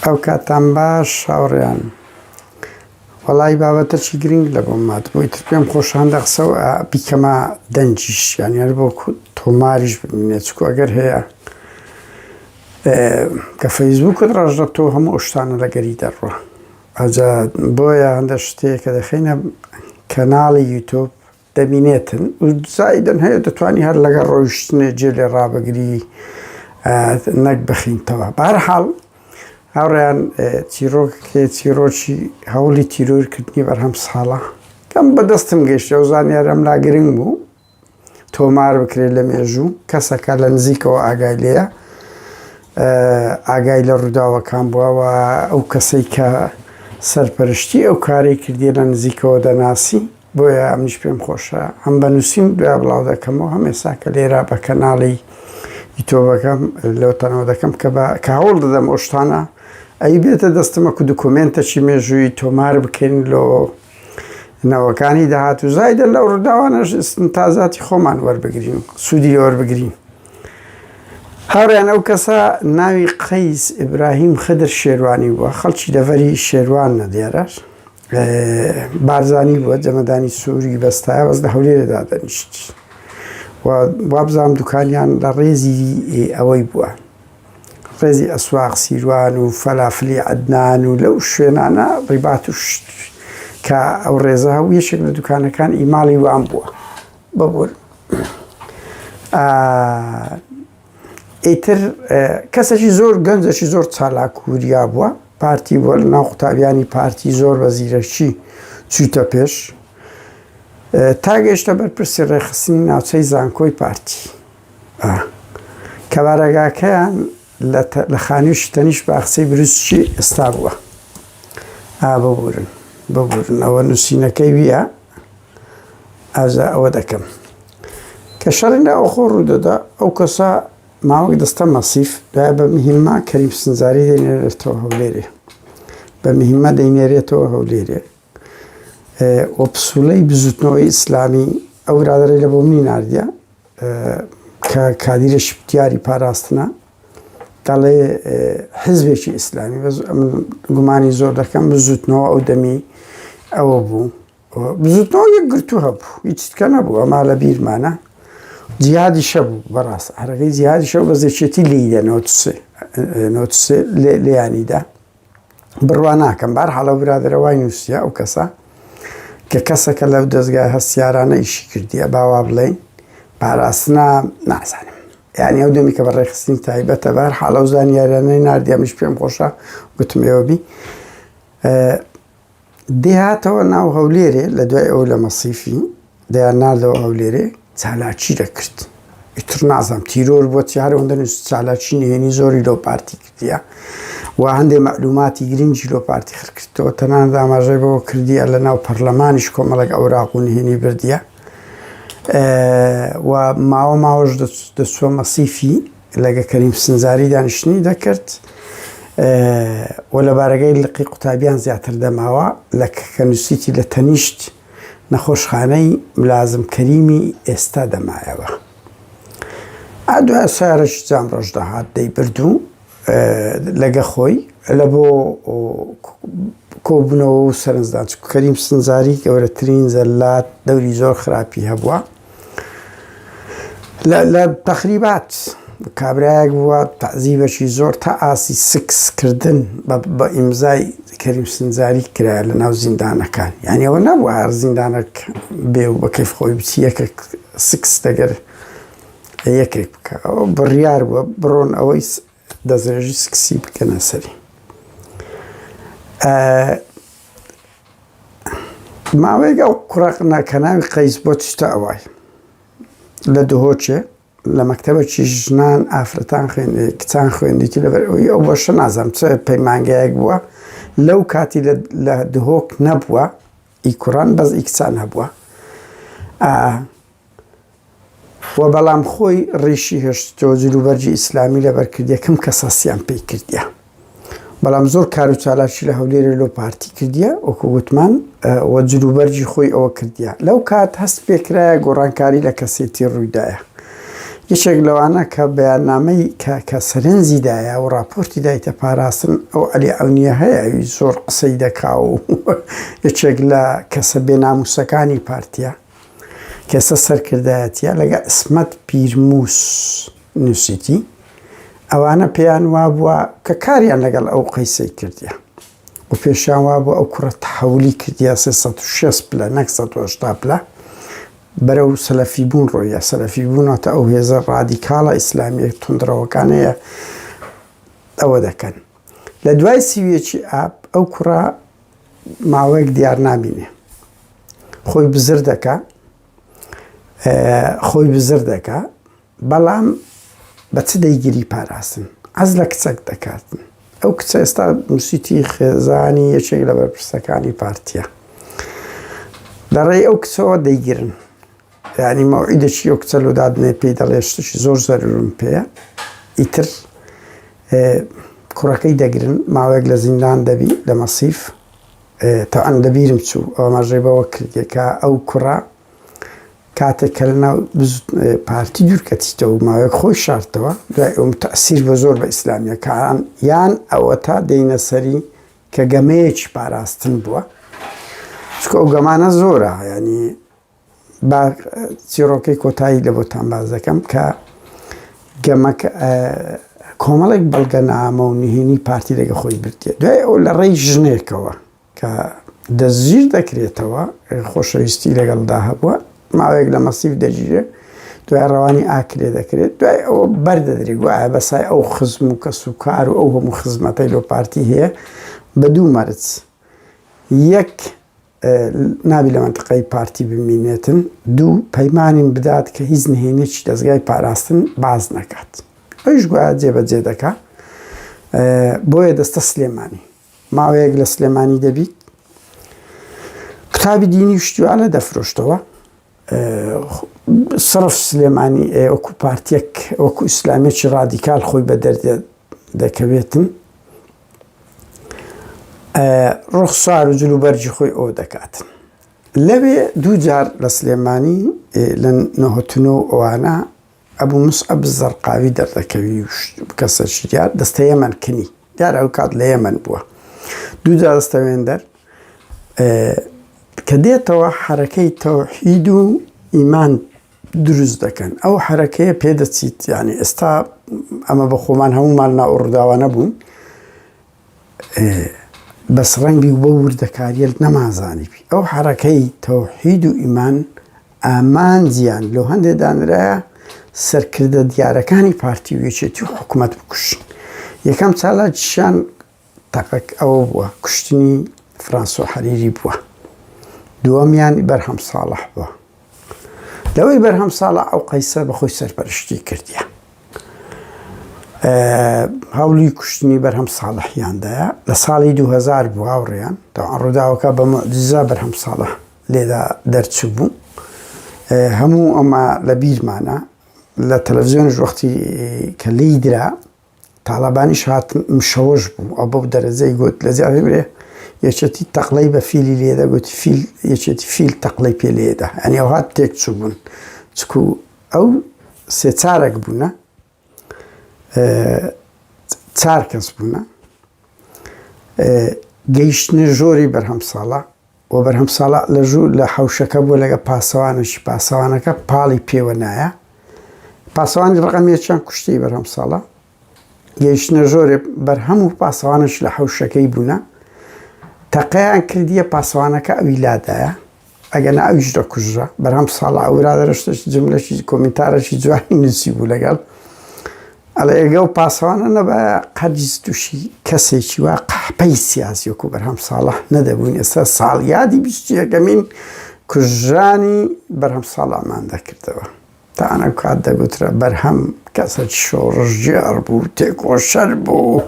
ئەوکاتتان باش هاوڕێیان. وەڵایی بابەتەکی گرنگ لە بۆ مات بۆی تر پێم خۆشاندە قسە و بیکەمە دەنجیش یانی هەر بۆ تۆماریش ببینێت چکو ئەگەر هەیە کە فەیسبووکت ڕژدە تۆ هەموو شتانە لەگەری دەڕوە ئەجا بۆیە هەندە شتێک کە دەخینە کەناڵی یوتوب دەبینێتن و زایدەن هەیە دەتوانی هەر لەگەڵ ڕۆیشتنێ جێ لێ ڕابگری نەک بخینتەوە بارحاڵ هاوڕیان چیرۆکێ چیرۆکی هەوڵی تیرۆرکردنی بەرهەم ساڵە کەم بەدەستم گەشتە و زانیارم لا گرنگ بوو تۆمار بکرێت لە مێژوو کەسەکە لە نزیکەوە ئاگای لەیە ئاگای لە ڕووداوەکان بووەوە ئەو کەسەی کە سەرپەرشتی ئەو کارەی کردی لە نزیکەوە دەناسی بۆیە منیش پێم خۆشە هەم بە نووسین دوای بڵاو دەکەمەوە هەم ئێستا کە لێرا بە کەناڵی یتۆبەکەم لەو تەنەوە دەکەم کە بە کاوڵ دەدەم ئۆشتانە ئەی بێتە دەستمە کو دکۆمێنتەچی مێژووی تۆمار بکەین لۆ نەوەکانی داهات و زایدە لەو ڕداوانەش تازاتی خۆمان وەربگرین سوودی لەوەربگرین هاوریان ئەو کەسە ناوی قەیس ئیبراهیم خدر شێوانی بووە خەڵکی دەڤەری شێوان نەدێرە بارزانی بووە جەمەدانی سووری بەستایە بەس لە هەولێرە دادەنیشت وابزانام دوکانیان لە ڕێزی ئەوەی بووە ڕێزی ئەسواق سیروان و فەلافلی عدنان و لەو شوێنانە ڕیبات و شت کە ئەو ڕێزە هەو یەشێک لە دوکانەکان ئیماڵی وان بووە بەبوون ئیتر کەسەکی زۆر گەنجەکی زۆر چالاک و وریا بووە پارتی بۆ لە ناو قوتابیانی پارتی زۆر بە زیرەکی چوویتە پێش تا گەشتە بەرپرسی ڕێخستنی ناوچەی زانکۆی پارتی کەبارەگاکەیان لە خانووشی تەنیش باخچەی بروسکی ئێستا بووە ببورن ببورن ئەوە نووسینەکەی ویە ئازا ئەوە دەکەم کە شەڕی ناوەخۆ ڕوودەدا ئەو کەسە ماوەک دەستە مەسیف دا بە مهمە کەریم سنجاری دەێنێتەوە هەولێرێ بە مهمە دەینێرێتەوە هەولێرێ و پسولەی بزوتنەوەی ئیسلامی ئەو رادەێ لە بۆ منی نردە کە کادیرە شپتیاری پاراستنە دەڵێ حزبێکی ئیسلامی بەس من گومانی زۆر دەکەم بزوتنەوە ئەو دەمی ئەوە بوو بزوتنەوە یەک گرتو هەبوو هیچ تکە نەبوو ئەما لە بیرمانە جیادی شەبوو بەڕاست هەرەکەی جیادی شەو بە زێکێتی لیدە نۆتسێ نۆتسێ لێیانیدا بڕوا ناکەم بار حاڵە برادرەوای نووسە ئەو کەسە کە کەسەکە لەو دەستگای هەستیارانە ئیشی کردیە باوا بڵین پاراستنا نازانم یعنی ئەو دەمی کە بە ڕێخستنی تایبەتە بار حاڵە و زانیارانەی نردیامیش پێم خۆشە گوتمێوەبی دەی هاتەوە ناو هەولێرێ لە دوای ئەو لە مەسیفی دەیان ناردەوە هەولێرێ چالاکی دەکرد ئیتر نازانم تیرۆر بۆ چارەوە دەنووس چالاکی نهێنی زۆری لۆ پارتی کردیە و هەندێ مەعلوماتی گرنگی لۆ پارتی خرکردەوە تەنان داماژەی بەوە کردیە لە ناو پەرلەمانیش کۆمەڵک ئەوراق و نهێنی بردیە و ماوە ماوەش دەچوە مەسیفی لەگە کەریم سنجاری دانیشتنی دەکرد و لە بارەگەی لقی قوتابیان زیاتر دەماوە لە کەنووسیتی لە تەنیشت نەخۆشخانەی ملازم کەریمی ئێستا دەمایەوە ئادو سارش جام ڕۆژ دەهات دەی بردو لەگە خۆی لە بۆ کۆبوونەوە و سەرنجدان کەریم سنجاری گەورەترین زەلات دەوری زۆر خراپی هەبووە لە تەخریبات کابرایەک بووە تەعزیبەکی زۆر تا ئاسی سکس کردن بە ئیمزای کەریم سنجاری کرا لە ناو زیندانەکان یعنی ئەوە نەبوو هەر زیندانەک بێ و بەکەف خۆی بچی یەکێک سکس دەگەر یەکێک بکە ئەوە بڕیار بووە بڕۆن ئەوەی دەستڕێژی سکسی بکەنە سەری ماوەیەک ئەو کوڕە ناکەناوی قەیس بۆ چتە ئەوای لە دهۆچێ لە مەکتتەبەکی ژنان ئافرەتان خوێنێ کچان خوێندێکی لەبەر ئەوی ئەو بەشە نازانم چ پەیمانگایەک بووە لەو کاتی لە دهۆک نەبووە ئی کوڕان بەس ئی کچان هەبووە و بەڵام خۆی ڕیشی هێشتەوە جلوبەرگی ئیسلامی لەبەر کرد یەکەم کەس هەستیان پێی کردیە بەڵام زۆر کار و چالاکی لە هەولێرە لۆ پارتی کردیە وەکو وتمان و جلوبەرگی خۆی ئەوە کردیە لەو کات هەست پێکرایە گۆڕانکاری لە کەسێتی ڕوویدایە یەکێک لەوانە کە بەیاننامەی کە کە سەرنجی دایە و راپۆرتی دایتە پاراستن ئەو ئەلی ئەونیە هەیە ئەوی زۆر قسەی دەکا و یەکێک لە کەسە بێناموسەکانی پارتیە ئێستا سەرکردایەتیە لەگەڵ عیسمەت پیرموس نوسیتی، ئەوانە پێیان وابووە کە کاریان لەگەڵ ئەو قەیسەی کردیە و پێشیان وابووە ئەو کوڕە تەحەولی کردیە سێ سەد و شێست پلە نەک سەد و هەشتا پلە بەرەو سەلەفی بوون ڕۆیە، سەلەفی بوون واتە ئەو هێزە ڕادیکاڵە ئیسلامیە توندڕەوەکانەیە ئەوە دەکەن. لە دوای سی و یەکی ئاب ئەو کوڕە ماوەیەک دیار نابینێ خۆی بزر دەکا خۆی بزر دەکا بەڵام بە چ دەیگیری پاراستن ئەز لە کچەک دەکاتن ئەو کچە ئێستا موسیتی خێزانی یەکێک لە بەرپرسەکانی پارتیە دەڕێی ئەو کچەوە دەیگرن یانی مەوعیدەکی ئەو کچە لۆ دادنێ پێی دەڵێ شتێکی زۆر زەرورم پێە ئیتر کوڕەکەی دەگرن ماوەیەک لە زیندان دەبی لە مەسیف تەعەن دەبیرم چوو ئەوماژەی بەوە کردێکە ئەو کوڕە کاتێک کە لە ناو پارتی دوورکەتیتەوە ماوەیەک خۆی شارتەوە دوای ئەوم تەسیر بە زۆر بە ئیسلامیەکان یان ئەوە تا دێنە سەری کە گەمەیەکی پاراستن بووە چکە ئەو گەمانە زۆرە ینی با چیڕۆکەی کۆتایی لە بۆتان باس دەکەم کە گەمەکە کۆمەڵێک بەڵگەنامە و نهێنی پارتی لەگە خۆی بردێت دوای ئەو لە ڕێی ژنێکەوە کە دەستگیر دەکرێتەوە خۆشەویستی لەگەڵدا هەبووە ماوەیەک لە مەسیف دەگیرێت دوای ڕەوانی ئاکرێ دەکرێت دوای ئەوە بەردەدرێ گوایە بەسای ئەو خزم و کەس و کار و ئەو هەموو خزمەتەی لۆ پارتی هەیە بە دوو مەرج یەک نابی لە مەنتقەی پارتی بمینێتن. دوو، پەیمانیم بدات کە هیچ نهێنیەکی دەزگای پاراستن باس نەکات. ئەویش گوایە جێبەجێ دەکا. بۆیە دەستە سلێمانی. ماوەیەک لە سلێمانی دەبیت. قوتابی دینی و شتیوانە دەفرۆشتەوە. سرف سلێمانی ئێ وەکو پارتیەک وەکو ئیسلامیەکی ڕادیکال خۆی بە دەردێ دەکەوێتن ڕوخ سار و جلو بەرجی خۆی ئەو دەکاتن لەوێ دووجار لە سلێمانی لە نەهتنەوە ئەوانە ئەبو موسعەب الزەرقاوی دەردەکەوی و شت بکەسە چی دیار دەستە یەمەن کنی دیار ئەوکات لە یەمەن بووە دوو جا دەستەوێندەر کە دێتەوە حەرەکەی تەوحید و ئیمان دروست دەکەن ئەو حەرەکەیە پێدەچیت یعنی ئێستا ئەمە بە خۆمان هەمومان ناوڕداوانە بوون بەس ڕەنگی و بەو وردەکاریەت نەمانزانیبی ئەو حەڕەکەی تەوحید و ئیمان ئامانجیان لۆ هەندێ دانرایە سەرکردە دیارەکانی پارتی و یەکێتی و حکومەت بکوشن یەکەم چالاکیشان تەقەک ئەوە بووە کوشتنی فرانسۆ حەریری بووە دووەمیان بەرهەم ساڵح بووە لەوەی بەرهەم ساڵە ئەو قەیسە بەخۆی سەرپەرشتی کردە هەوڵی کوشتنی بەرهەم ساڵحیاندایە لە ساڵی 2000 بوو هاوڕێیان تا ڕووداوەکە بە مدیزا بەرهەم ساڵە لێدا دەرچوو بوو هەموو ئەمە لە بیرمانە لە تەلەڤزیۆنش وەختی کە لی درا تاڵەبانیش هات مشەوەش بوو ئەو بەو دەرەجەی گوت لە زیاوی برێ یەکێتی تەقلەی بە فیلی لێدە گوت فیل یەکێتی فیل تەقلەی پێ لێدا ئەنی ئەو هات تێک چوو بوون چکو ئەو سێ چارەک بوونە چار کەس بوونە گەیشتنە ژۆری بەرهەم ساڵە و بەرهەم ساڵح لە ژوور لە حەوشەکە بوو لەگەڵ پاسەوانێکی، پاسەوانەکە پاڵی پێوە نایە، پاسەوانی ڕقم یەکیان کوشتی بەرهەم ساڵح، گەیشتنە ژۆرێ بەرهەم و پاسەوانەش لە حەوشەکەی بوونە، تەقەیان کردیە پاسەوانەکە ئەوی لادایە، ئەگەنا ئەویش دەکوژرا، بەرهەم ساڵح ئەو برادەرە شتێکی جملەکی کۆمینتارەکی جوانی نووسیبوو لەگەڵ، ئەڵێ ئێگە ئەو پاسەوانە نەبایە هەرگیز تووشی کەسێکی وا قەحپەی سیاسی وەکو بەرهەم ساڵح نەدەبووین ئێستا ساڵیادی بیست و یەکەمین کوژرانی بەرهەم ساڵحمان دەکردەوە تان ئەو کات دەگوترا بەرهەم کەسێکی شۆڕشگێڕ بوو تێکۆشەر بوو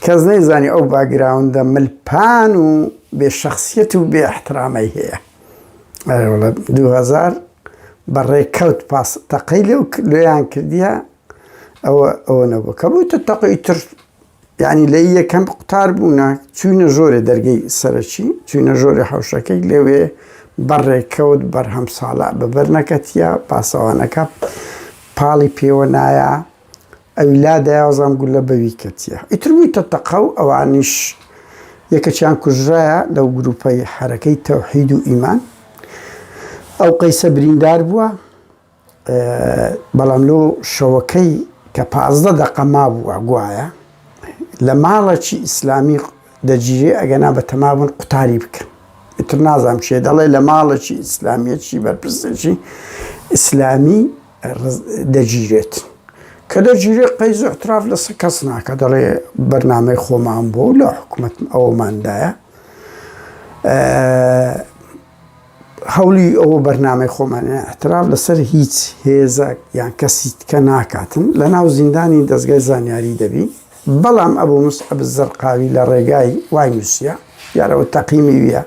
کەس نەیزانی ئەو باگراوندە ملپان و بێ شخصیت و بێ احترامەی هەیە ئەرەوڵە 2000 بەڕێکەوت پاس تەقەی لەو لێیان کردیە ئەوە ئەوە نەبوو کە بوویتە تەقەی تر یعنی لە یەکەم قوتار بوونە چوینە ژۆرێ دەرگەی سەرەکی چوینە ژۆرە حوشەکەی لەوێ بەڕێکەوت بەرهەم ساڵە بەبەر نەکەتیە پاسەوانەکە پاڵی پێوە نایە ئەوی لا دەیاوەزان گول لە بەوی کەتیە ئیتر بوویتە تەقە و ئەوانیش یەکەچیان کوژرایە لەو گروپەی حرەکەی تەوحید و ئیمان ئەو قەیسە بریندار بووە بەڵام لۆ شەوەکەی کە پازدە دەقە مابووە گوایە لە ماڵەکی ئیسلامی دەگیرێ ئەگەنا بە تەمابوون قوتاری بکەن ئیتر نازانم کێ دەڵێ لە ماڵەکی ئیسلامیەکی بەرپرسێکی ئیسلامی دەگیرێت کە دەگیرێت قەیز و احتراف لە سە کەس ناکە دەڵێ بەرنمەی خۆمان بۆ لە حکوومەت ئەوماندایە هەولی ئەوە بەرنامەی خۆمانە احتراف لەسەر هیچ هێزەک یان کەسی تکە ناکاتن لە ناو زیندانی دەستگای زانیاری دەبی بەڵام ئەبوو مست ئەب زەرقاوی لە ڕێگای وای نووسە یارەوە تەقیمی ویە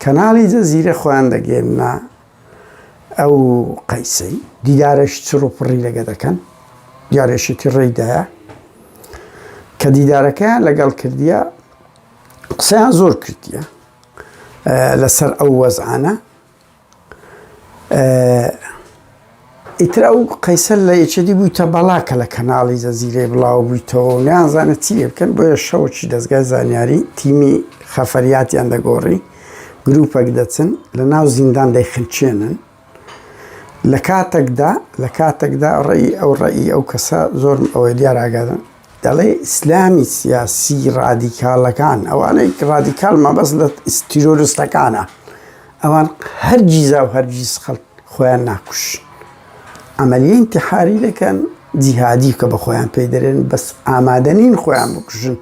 کەناڵی جەزیرە خۆیان دەگەێننا ئەو قەیسەی دیدارەش چڕ و پڕی لەگە دەکەن دیارێشێتی ڕێدایە کە دیدارەکەیان لەگەڵ کردیە قسەیان زۆر کردیە لەسەر ئەو وەزعانە ئیتر ئەو قەیسەر لە یەکێتی بووی تە بەڵاکە لە کەناڵی زەزیرەی بڵاو بوویتەوە و نیانزانە چی لێ بکەن بۆیە شەوەکی دەستگای زانیاری تیمی خەفەریاتیان دەگۆڕی گروپەک دەچن لە ناو زیندان دەیخنچێنن لە کاتەکدا لە کاتەکدا ڕێی ئەو ڕێی ئەو کەسە زۆرم ئەوەی دیار ئاگادن دەڵێ ئیسلامی سیاسی ڕادیکالەکان ئەوانەی ڕادیکال مەبەست لە ئیسیرۆرستەکانە ئەوان هەرگیزا و هەرگیز خەڵک خۆیان ناکوش ئەمەلی انتحاری دەکەن جیهادی کە بەخۆیان پێی دەرێن بەس ئامادە نین خۆیان بکوژن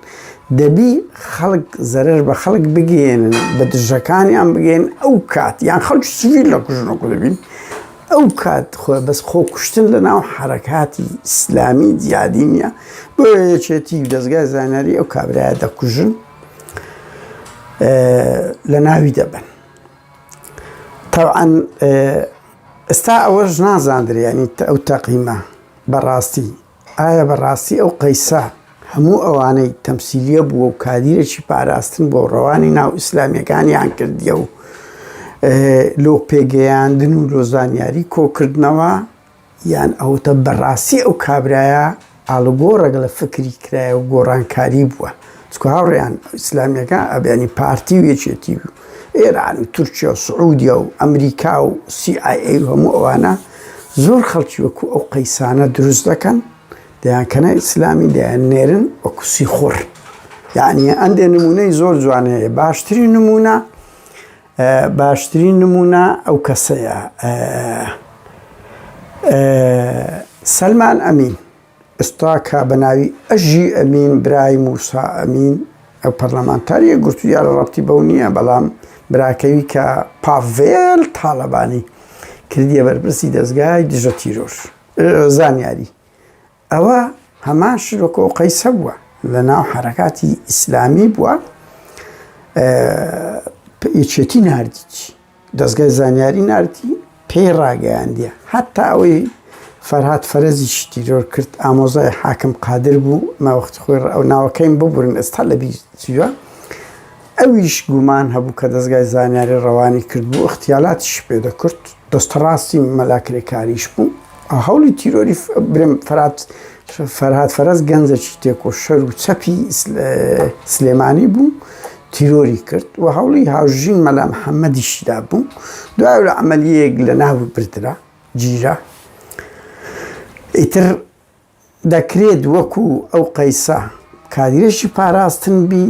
دەبی خەڵک زەرر بە خەڵک بگێن بە دژەکانیان بگەن ئەو کات یان خەڵک سویر لە کوژنەکو دەبین ئەو کات خۆ بەس خۆ کوشتن لە ناو حرەکاتی ئیسلامی جیادی نیە بۆ یەکێتی و دەستگای زانیاری ئەو کابراە دەکوژن لە ناوی دەبن تەوعەن ئێستا ئەوەش نازاندرێ یعنی ئەو تەقیمە بەڕاستی ئایا بەڕاستی ئەو قەیسە هەموو ئەوانەی تەمسیلیە بووە و کادیرێکی پاراستن بۆ ڕەوانی ناو ئیسلامیەکانیان کردیە و لۆ پێگەیاندن و لۆ زانیاری کۆکردنەوە یان ئەوەتا بەڕاستی ئەو کابرایە ئاڵوگۆڕێک لە فکری کرایە و گۆڕانکاری بووە؟ چونکە هاوڕێیان ئیسلامییەکان ئەبێنی پارتی و یەکێتی و ئێران و تورکیا و سعودیا و ئەمریکا و CIA و هەموو ئەوانە زۆر خەڵکی وەکو ئەو قەیسانە دروست دەکەن دەیان کەنە ئیسلامی دەیان نێرن وەکو سیخوڕ یعنی ئەندێ نمونەی زۆر جوانەیە باشترین نمونە باشترین نمونە ئەو کەسەیە سەلمان ئەمین ئستا کا بە ناوی ئەژی ئەمین برای موسا ئەمین ئەو پەرلەمانتاریە گرتو دیارە ڕەتی بەو نییە بەڵام براکەوی کە پاڤێل تاالبانی کردیە بەرپرسی دەستگای دژە تیرۆر زانیاری ئەوە هەمان شرۆکە و قەیسە بووە لە ناو حرەکاتی ئیسلامی بووە یەکێتی نردیت دەستگای زانیاری نردی پێی ڕاگەیاندە هەتا ئەوەی فەرهات فەرەزی شتیرۆر کرد ئامۆزای حاکم قادر بوو ماوەخت خۆی ئەو ناوەکەیم ببورن ئێستا لە بیوە ئەویش گومان هەبوو کە دەزگای زانیاری ڕەوانی کردبوو، ئیغتیالاتیشی پێ دەکرد، دەستە ڕاستی مەلا کرێکاریش بوو، هەوڵی تیرۆری برێم فەرات فەرهاد فەرەج گەنجەکی تێکۆشەر و چەپی سلێمانی بوو تیرۆری کرد و هەوڵی هاوژین مەلا محەمەدیشی دابوو، دوای لە عەمەلیەیەک لە ناو بردرا، گیرا ئیتر. دەکرێت وەکو ئەو قەیسە کادیرێکی پاراستن بی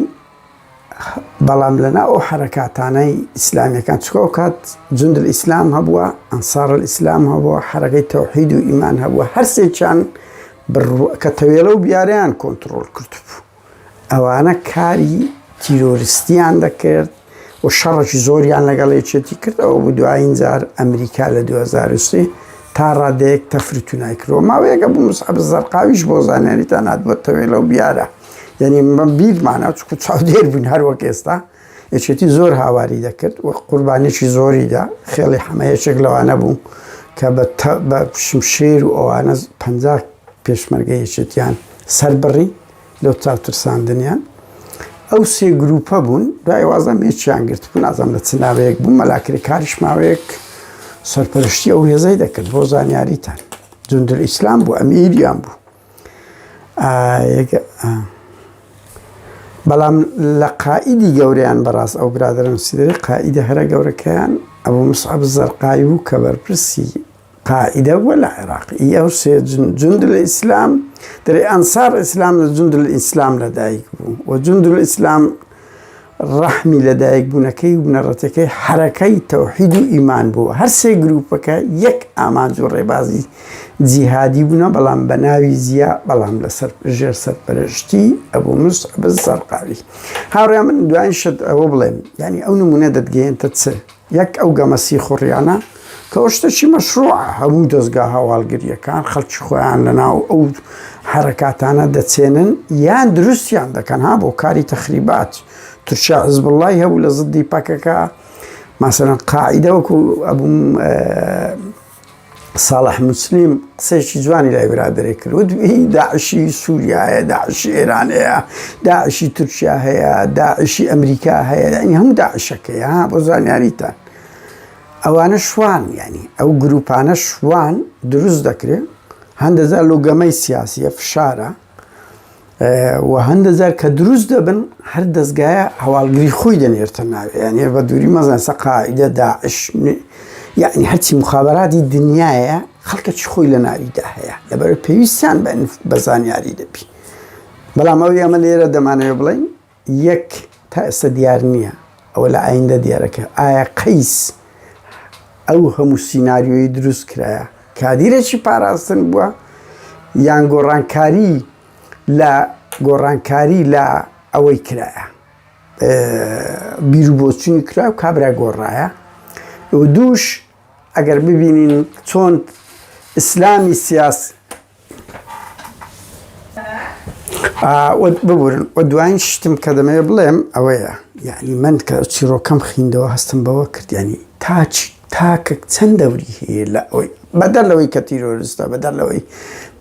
بەڵام لەناو ئەو حەرەکاتانەی ئیسلامیەکان چکە ئەوکات جندل ئیسلام هەبووە ئەنسارل ئیسلام هەبووە حەرەکەی تەوحید و ئیمان هەبووە هەرسێکیان کە تەوێڵە و بیارەیان کۆنتڕۆل کردبوو ئەوانە کاری تیرۆرستیان دەکرد و شەڕەکی زۆریان لەگەڵ یەکێتی کرد ئەوە بوو دوایین جار ئەمریکا لە 2023 تا ڕادەیەک تەفروتونای کرد و ماوەیەکە بوو مسعب زەرقاویش بۆ زانیاریتان هاتبووە تەوێلە و بیارە یعنی من بیرمانە چکو چاودێر بووین هەر وەک ئێستا یەکێتی زۆر هاواری دەکرد و قوربانێکی زۆری دا خێڵی حەمە یەکێک لەوانە بوو کە بە شمشێر و ئەوانە پ پێشمەرگە یەکێتیان سەر بڕی لەو چاوترساندنیان ئەو سێ گروپە بوون دوای وازم هێچیان گرت بوو نازم لە چناوەیەک بوو مەلاکری کاریش ماوەیەک سەرپەرشتی ئەو هێزەی دەکرد بۆ زانیاریتان جندل ئیسلام بوو ئەمیریان بوو بەڵام لە قائیدی گەوریان بەڕاست ئەو برادرم سیدەی قائیدە هەرە گەورەکەیان ئەبوو مسعەب زەرقاوی بوو کە بەرپرسی قائیدە بووە لە عێراق ئی ئەو سێ جوند الاسلام دەرێ ئەنسار اسلام لە جوند الاسلام لەدایک بوو و جوند الاسلام ڕەحمی لە دایک بوونەکەی و بنەڕەتەکەی حەرەکەی تەوحید و ئیمان بووە هەر سێ گرووپەکە یەک ئامانج و ڕێبازی جیهادی بوونە بەڵام بە ناوی زیا بەڵام لەسەر ژێر سەرپەرشتی ئەبوو مس بزەرقاوی هاوڕێ من دوایین شت ئەوە بڵێم یعنی ئەو نمونە دەتگەێنتە چ یەک ئەو گەمە سیخوڕیانە کەەوە شتەکی مەشروعە هەموو دەستگا هەواڵگریەکان خەڵکی خۆیان لەناو ئەو حرەکاتانە دەچێنن یان دروستیان دەکەن ها بۆ کاری تەخریبات تورکیا حزب اللهی هەبوو لە زدی پەکەکە ماسەرەن قاعدەوەکو ئەبووم ساڵح موسلیم قسەیەکی جوانی لای برادێک کرد وت هی داعشی سووریایە داعشی ئێران هەیە داعشی تورکیا هەیە داعشی ئەمریکا هەیە ینی هەموو داعشەکەیە ها بۆ زانیاریتان ئەوانە شوان ینی ئەو گروپانە شوان دروست دەکرێن هەندەزار لۆگەمەی سیاسیە فشارە و هەندە جار کە دروست دەبن هەر دەستگایە هەواڵگری خۆی دەنێرتە ناوێ یانە بە دووری مەزان سە قاعدە داعش یعنی هەرچی مخابراتی دنیاە خەڵکە چ خۆی لە ناویدا هەیە لەبەر پێویستیان بە بەزانیاری دەبی بەڵام ئەوی ئەمە لێرە دەمانەوە بڵین یەک تا ئێستا دیار نییە ئەوە لە ئایندە دیارە کە ئایا قەیس ئەو هەموو سیناریۆی دروست کرایە کادیرێکی پاراستن بووە یان گۆڕانکاری لە گۆڕانکاری لە ئەوەی کرایە بیرو بۆچوونی کرا و کابرا گۆڕایە دووش ئەگەر ببینین چۆن ئیسلامی سیاسی ببورن و دوایین شتم کە دەمەوێ بڵێم ئەوەیە یعنی من کە چیرۆکەم خیندەوە هەستم بەوە کردیانی تاچ تاکە چەند دەوری هەیە لە ئەوی بەدەر لەوەی کە تیرۆرستە بەدەر لەوەی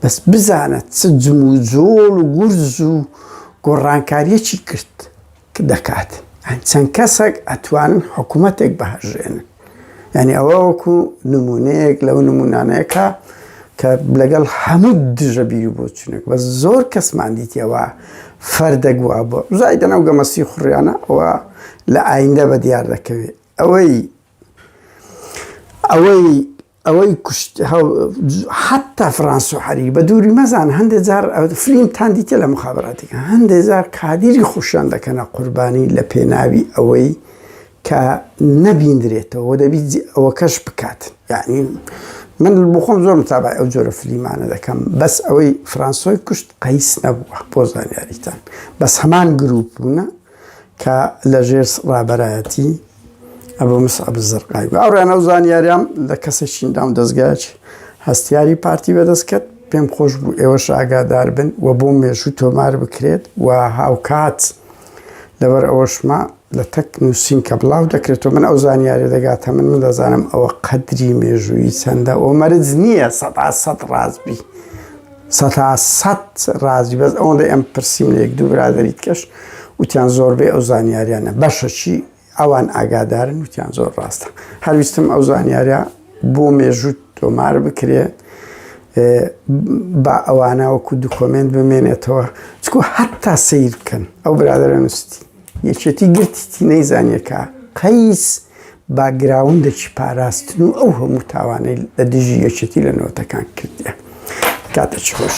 بەس بزانە چ جم و جۆڵ و گورز و گۆڕانکاریەکی کرد دەکات یان چەند کەسەک ئەتوانن حکومەتێک بهەژێنن یانی ئەوە وەکو نمونەیەک لەو نمونانەیەکە کە لەگەڵ هەموو دژە بیر و بۆچونێک بە زۆر کەسمان دیتەوە فەردەک وا بۆ زای دەناو گەمەسی خوڕیانە ئەوە لە ئایندە بە دیار دەکەوێت ئەوەی ئەوەی ئەوەی کوشت حتا فرانسو حەری بە دووری مەزان هەندێک جار فلیمتان دیتە لە مخاباتێکە هەندێک جار کادیری خوشیان دەکەنە قوربانی لە پێناوی ئەوەی کە نەبیندرێتەوە دەبی ئەوە کەش بکات یعنی من بخۆم زۆر متابای ئەو جۆرە فلیمانە دەکەم بەس ئەوەی فرانسۆی کوشت قەیس نەبووە بۆ زانیاریتان بەس هەمان گروپ بوونە کە لە ژێر ڕابەرایەتی ئەبو مسعب الزرقاوی گوت ئەوڕێن ئەو زانیاریان لە کەسێکین دام دەستگایەکی هەستیاری پارتی بەدەست کرد پێم خۆش بوو ئێوەش ئاگادار بن و بۆ مێژوو تۆمار بکرێت و هاوکات لەبەر ئەوەشما لە تەک نووسین کە بڵاو دەکرێتەوە من ئەو زانیاری دەگاتە من من دەزانم ئەوە قەدری مێژووی چەندە ئەو مەرج نییە سەدا سەد ڕاستبی سەتا سەد ڕازی بەس ئەوەندەی ئەم پرسیم لە یەک دوو برادری دیکەش وتیان زۆربەی ئەو زانیاریانە بەشەچی ئەوان ئاگادارن وتیان زۆر ڕاستە هەرویستم ئەو زانیارە بۆ مێژوو تۆمار بکرێ با ئەوانە وەکو دوکۆمنت بمێنێتەوە چکو حتا سیر بکەن ئەو برادرە نووستی یەکێتی گرتیتی نەیزانیە کە قەیس باکگراوندەکی پاراستن و ئەو هەموو تاوانەی لە دژی یەکێتی لە نەوەتەکان کردیە. کاتێکی خۆش.